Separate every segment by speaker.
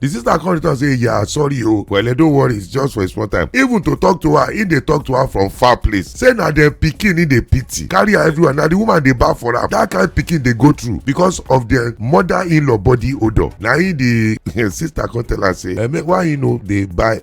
Speaker 1: the sister come return say yeah sorry o wele don't worry it's just for a small time even to talk to her he dey talk to her from far place say na dem pikin he dey pity carry her everywhere na the woman dey baff for am that kind pikin dey go through because of their mother-in-law body odour na him the sister come tell her say eh, make why you no dey buy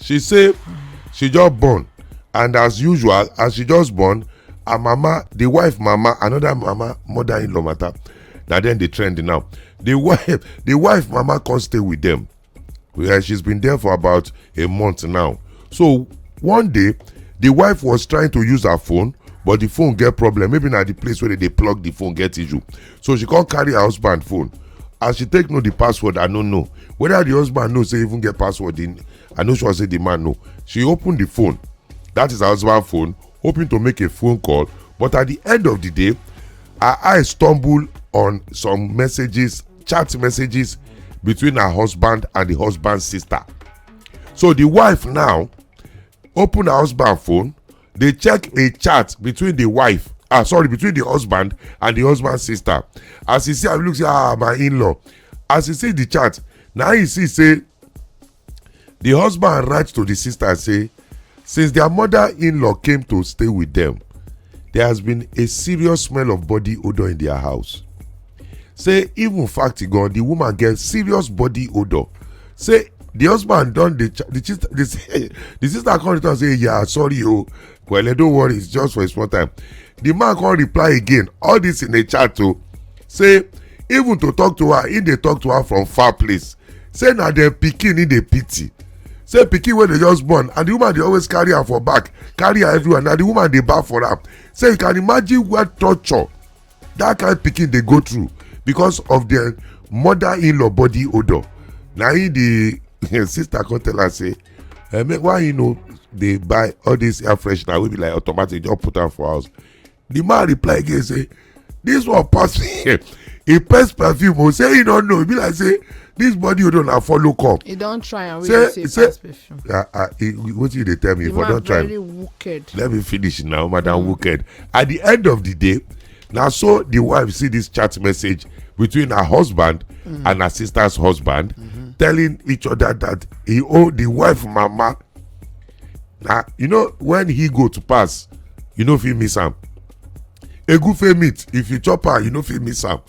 Speaker 1: she say she just born and as usual as she just born her mama the wife mama another mama mother-in-law matter na dem dey trend now the wife the wife mama come stay with them yeah, she's been there for about a month now so one day the wife was trying to use her phone but the phone get problem maybe na the place where they dey plug the phone get issue so she come carry her husband phone as she take know the password i no know whether the husband know say even get password in i no sure say the man know she open the phone that is her husband phone hoping to make a phone call but at the end of the day her eye stumble on some messages chat messages between her husband and the husband's sister so the wife now open her husband phone dey check a chat between the wife ah sorry between the husband and the husband sister as he see am look say ah my in-law as he see the chat na he see say the husband write to the sister say since their mother in-law came to stay with them there has been a serious smell of body odour in their house say even fact gan the woman get serious body odour say the husband don dey the sister the sister come return say yeah sorry o kwele don't worry it's just for a small time the man come reply again all this in a chat o say even to talk to her he dey talk to her from far place say na dem pikin he dey pity say pikin wey dey just born and the woman dey always carry am for back carry am everywhere na the woman dey baff for am say you can imagine what torture that kind pikin dey go through because of their mother in-law body odour na him the sister come tell her say eh, make why you no dey buy all this air freshener wey be like automatic just put am for house the man reply again say this one pass me he pass perfume o oh, say he no know e be like say this body odor na follow come. he don try am wey you say say pass perfume. ah ah wetin you dey tell me the for don try am let me finish now madam mm. wicked at the end of the day na so the wife see this chat message between her husband mm. and her sister's husband mm -hmm. telling each other that he owe the wife mama na you know when he go to pass you no fit miss am egufe meat if you chop am you no fit miss am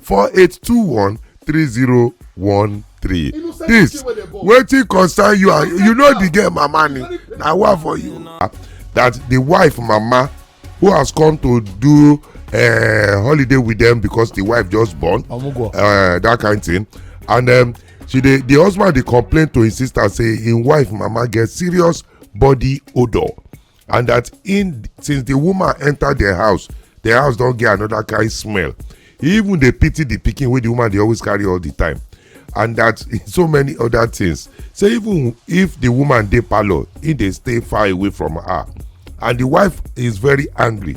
Speaker 1: 4821 3013. This wetin concern you and you know the girl mama ni na wa for you. That the wife mama who has come to do uh, holiday with them because the wife just born uh, that kind thing and um, she dey the husband dey complain to his sister say him wife mama get serious body odour and that in since the woman enter their house their house don get another kind smell he even dey pity the pikin wey the woman dey always carry all the time and that so many other things so even if the woman dey parlour he dey stay far away from her and the wife is very angry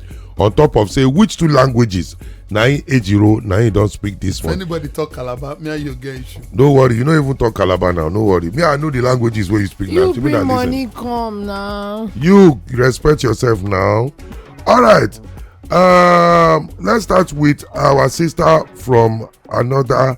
Speaker 1: on top of say which two languages na him ejiro na him don speak this if one anybody talk calabar me and you get issue no worry you no even talk calabar now no worry me i know the languages wey you speak now you to me na bring listen money come now. you respect yourself now all right um, let's start with our sister from another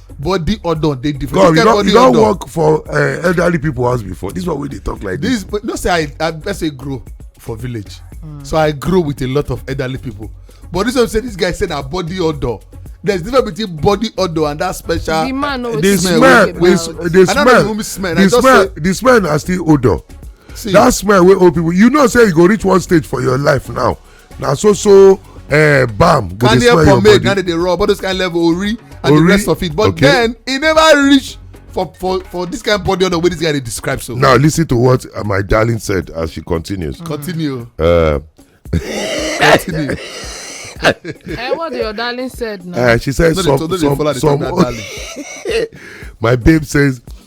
Speaker 1: body odor dey different. God, you don you don work for uh, elderly people house before this one wey dey talk like this. this no say i i best say grow for village mm. so i grow with a lot of elderly people but this one say this guy say na body odor there is difference between body odor and that special. the man no the smell the, the smell the smell the smell the smell na still odor. See, that smell wey old people you know say you go reach one stage for your life now na so so uh, bam go dey smell your body. na dey dey rub all those kind level ori and the rest of it but okay. then e never reach for for for this kind of body odor wey this guy dey describe so. now listen to what uh, my darling said as she continues. Mm. continue. Uh, continue. eh, what your darling said now. Uh, she said no, some some some. my babe says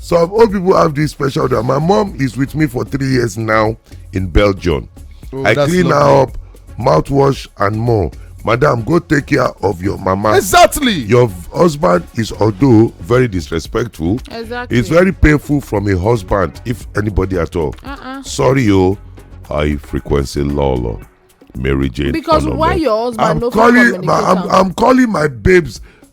Speaker 1: some old people have this special that my mom is with me for three years now in belgium oh, i clean lovely. her up mouthwash and more madam go take care of your mama exactly your husband is although very disrespectful exactly it's very painful from a husband if anybody at all uh-uh. sorry o oh, high frequency lawlaw mary jane because why your husband I'm no calling, I'm, I'm calling my babes